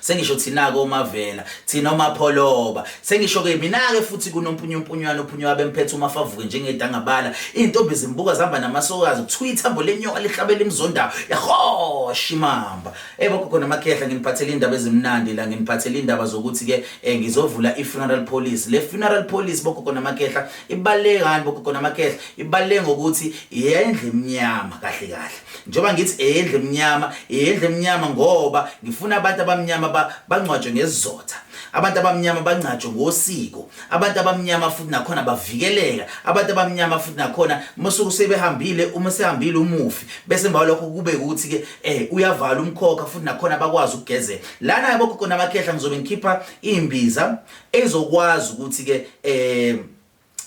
sengisho thina-ke omavela thina omapholoba sengisho-ke mina-ke futhi kunompunyumpunywana ophunywa abemphethe uma favuke njengedangabala iy'ntombi zimbuka zihamba namasokazi kuthiwa ithambo lenyoka lihlabela imzondawo yahosha imamba ey bogogo namakhehla nginiphathele iy'ndaba ezimnandi la nginiphathele iy'ndaba zokuthi-ke um ngizovula i-funeral police le funeral police bogogo namakhehla ibaluleke ngani bogogo namakhehla ibaluleke ngokuthi yendle emnyama kahle kahle njengoba ngithi eyendle emnyama eyendle emnyama ngoba ngifuna abantu abamnyama bangcwatshwe ngesizotha abantu abamnyama bangcatshwe ngosiko abantu abamnyama futhi nakhona bavikeleka abantu abamnyama futhi nakhona musuku sebehambile uma sehambile umufi bese mbawa lokho kube ukuthi ke eh uyavala umkhokha futhi nakhona bakwazi ukugezela lana yabo khona amakhehla ngizobe ngikhipha imbiza ezokwazi ukuthi ke eh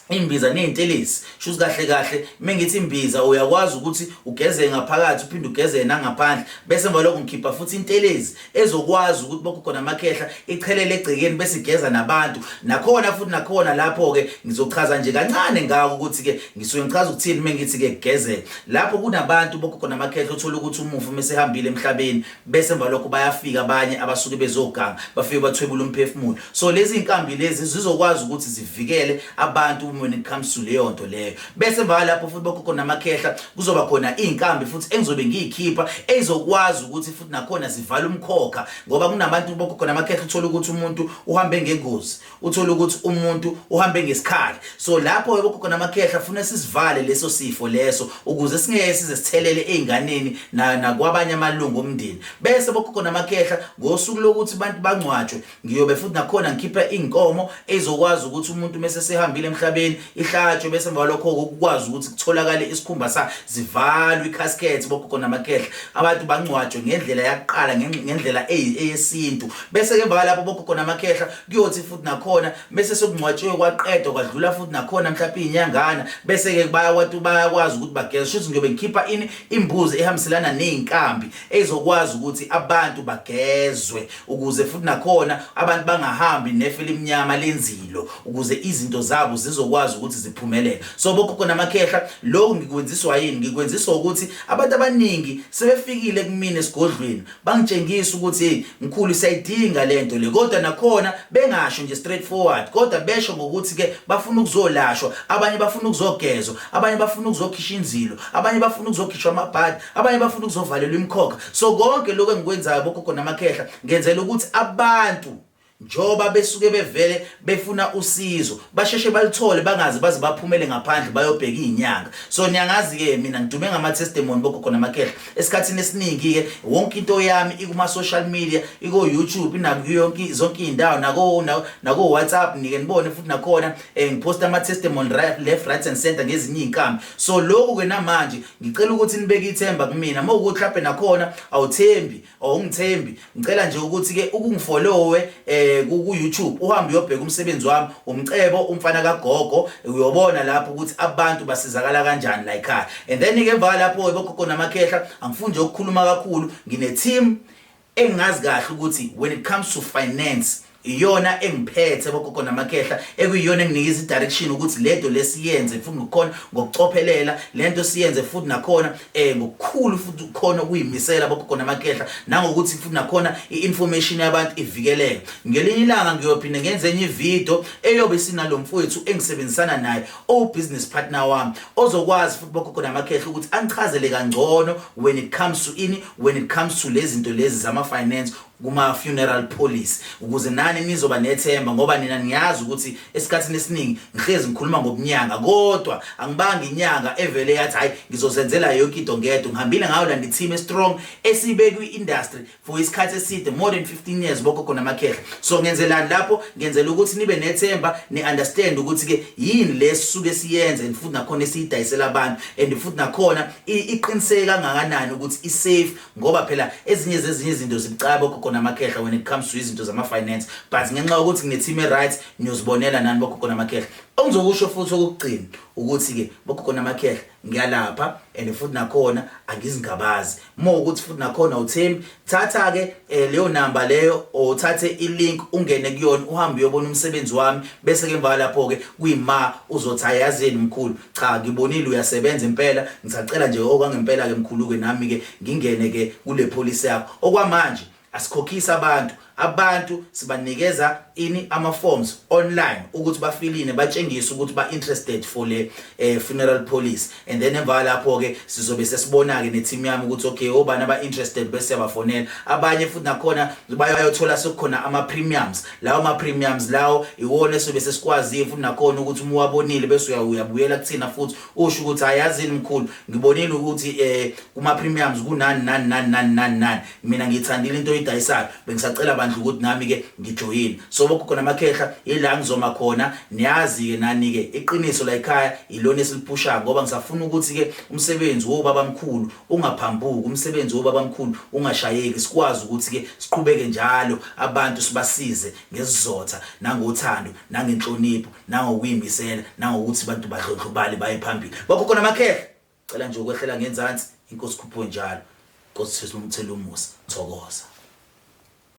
imbiza nezintelezi shuthi kahle kahle mengithi imbiza uyakwazi ukuthi ugeze ngaphakathi uphinde ugeze nangaphandle bese emva lokho ngikhipha futhi intelezi ezokwazi ukuthi bokho khona amakhehla ichelele egcekeni bese igeza nabantu nakhona futhi nakhona lapho ke ngizochaza nje kancane ngako ukuthi ke ngisuke ngichaza ukuthini mengithi ke kugezela lapho kunabantu bokho khona amakhehla uthola ukuthi umufi mesehambile emhlabeni bese emva lokho bayafika abanye abasuke bezoganga bafike bathwebula umphefumulo so lezi inkambi lezi zizokwazi ukuthi zivikele abantu when it comes to leyo nto leyo bese emva lapho futhi bakho khona amakhehla kuzoba khona inkambi futhi engizobe ngiyikhipha ezokwazi ukuthi futhi nakhona zivala umkhokha ngoba kunabantu bakho khona amakhehla uthola ukuthi umuntu uhambe ngengozi uthole ukuthi umuntu uhambe ngesikhali so lapho yebo khona amakhehla funa sisivale leso sifo leso ukuze singeke size sithelele einganeni na nakwabanye amalungu omndeni bese bokhokho namakhehla ngosuku lokuthi abantu bangcwatshwe ngiyobe futhi nakhona ngikhipha inkomo ezokwazi ukuthi umuntu mese sehambile emhlabeni ihlatshwe bese balokho ukwazi ukuthi kutholakale isikhumba sa zivalwe icasket bokhokho namakhehla abantu bangcwatshwe ngendlela yaqala ngendlela eyesintu bese ke emva lapho bokhokho namakhehla kuyothi futhi nakhona bese sekungcwatshiwe kwaqedwa kwadlula futhi nakhona mhlawumbe inyangana bese ke bayawati bayakwazi ukuthi bageza shuthi ngiyobe ngikhipha ini imbuzi ehambiselana nezinkambi ezokwazi ukuthi abantu bagezwe ukuze futhi nakhona abantu bangahambi nefe limnyama lenzilo ukuze izinto zabo zizokwazi ukuthi ziphumelele so bokhokho namakhehla lokhu ngikwenziswa yini ngikwenziswa ukuthi abantu abaningi sebefikile kumina esigodlweni Bangitshengisa ukuthi hey mkhulu siyayidinga lento le kodwa nakhona bengasho nje straight forward kodwa besho ngokuthi ke bafuna ukuzolashwa abanye bafuna ukuzogezwa abanye bafuna ukuzokhishwa inzilo abanye bafuna ukuzokhishwa amabhadi abanye bafuna ukuzovalelwa imkhokha so konke lokho engikwenzayo bogogo namakhehla ngenzela ukuthi abantu Njengoba besuke bevele befuna usizo, basheshe baluthole bangaze baze baphumele ngaphandle bayobheka izinyanga. So niyangazi ke mina ngidume ngama testimony bogogo namakhehla. Esikhathini esiningi ke wonke into yami ikuma social media, iko YouTube nakuyo yonke zonke izindawo nako nako WhatsApp nike nibone futhi nakhona eh, ngiposta ama testimony right, left right and center ngezinye izinkampani. So lokhu ke namanje ngicela ukuthi nibeke ithemba kumina. Mawukuthi mhlawumbe nakhona awuthembi awungithembi ngicela nje ukuthi ke ukungifolowe eh ku YouTube uhambe uyobheka umsebenzi wami umcebo umfana kagogo uyobona lapho ukuthi abantu basizakala kanjani la ekhaya and then ke emva lapho ebogogo namakhehla angifuni nje ukukhuluma kakhulu ngine team engazi kahle ukuthi when it comes to finance iyona engiphethe bogogo namakhehla ekuyiyona enginika izidirection ukuthi lento lesiyenze futhi ngokukhona ngokucophelela lento siyenze futhi nakhona eh ngokukhulu futhi ukhona ukuyimisela bogogo namakhehla nangokuthi futhi nakhona iinformation yabantu ivikeleke ngelinye ilanga ngiyophinda ngenze enye ivideo eyobe sinalomfowethu engisebenzisana naye o business partner wami ozokwazi futhi bogogo namakhehla ukuthi angichazele kangcono when it comes to ini when it comes to lezi zinto lezi zama finance kuma funeral police ukuze nani nizoba nethemba ngoba nina niyazi ukuthi esikhathini esiningi ngihlezi ngikhuluma ngobunyanga kodwa angibanga inyanga evele yathi hayi ngizozenzela yonke into ngedwa ngihambile ngayo la ndithime strong esibe kwi industry for isikhathi eside more than 15 years boko khona amakhehla so ngenzelani lapho ngenzela ukuthi nibe nethemba ni understand ukuthi ke yini lesisuke siyenze and futhi nakhona esiyidayisela abantu and futhi nakhona iqiniseke kangakanani ukuthi i safe ngoba phela ezinye zezinye izinto zibucayi bogogo namakhehla when it comes to izinto zama-finance but ngenxa yokuthi nginethim e-right niyozibonela nani bogogo namakhehla ongizokusho futhi okokugcina ukuthi-ke bogogo namakhehla ngiyalapha and futhi nakhona angizingabazi uma ukuthi futhi nakhona uthembi thatha-ke um leyo namba leyo or uthathe ilink ungene kuyona uhambe uyobona umsebenzi wami bese-ke emva kwalapho-ke kuyima uzothi ayazi yeni mkhulu cha ngibonile uyasebenza impela ngisacela nje okwangempela ke mkhuluke nami ke ngingene ke kule policy yakho okwamanje asikhokhisa abantu abantu sibanikeza ini ama forms online ukuthi bafiline batshengise ukuthi ba interested for le eh, funeral policy and then emva lapho ke sizobe sesibona ke ne team yami ukuthi okay obani aba interested bese siyabafonela abanye futhi nakhona bayothola sekukhona ama premiums lawo ma-premiums lawo iwona esobe sesikwazile futhi nakhona ukuthi uma uwabonile bese uyabuyela kuthina futhi usho ukuthi ayazini mkhulu ngibonile ukuthi um eh, kuma-premiums kunani nani nani nani nani nani mina ngiyithandile into oyidayisayo bengisacela bandla ukuthi nami-ke ngijoyine so bokhona amakhehla yila ngizoma khona niyazi-ke nani-ke iqiniso layikhaya yilona esiliphushako ngoba ngisafuna ukuthi-ke umsebenzi wobabamkhulu ungaphambuki umsebenzi wobabamkhulu ungashayeki sikwazi ukuthi ke siqhubeke njalo abantu sibasize ngesizotha nangothando nangenhlonipho nangokuyimisela nangokuthi abantu badlondlobale baye phambili bakhokho namakhehla cela nje ukwehlela ngenzansi inkosi khupho njalo inkosi sesumthela umusa thokoza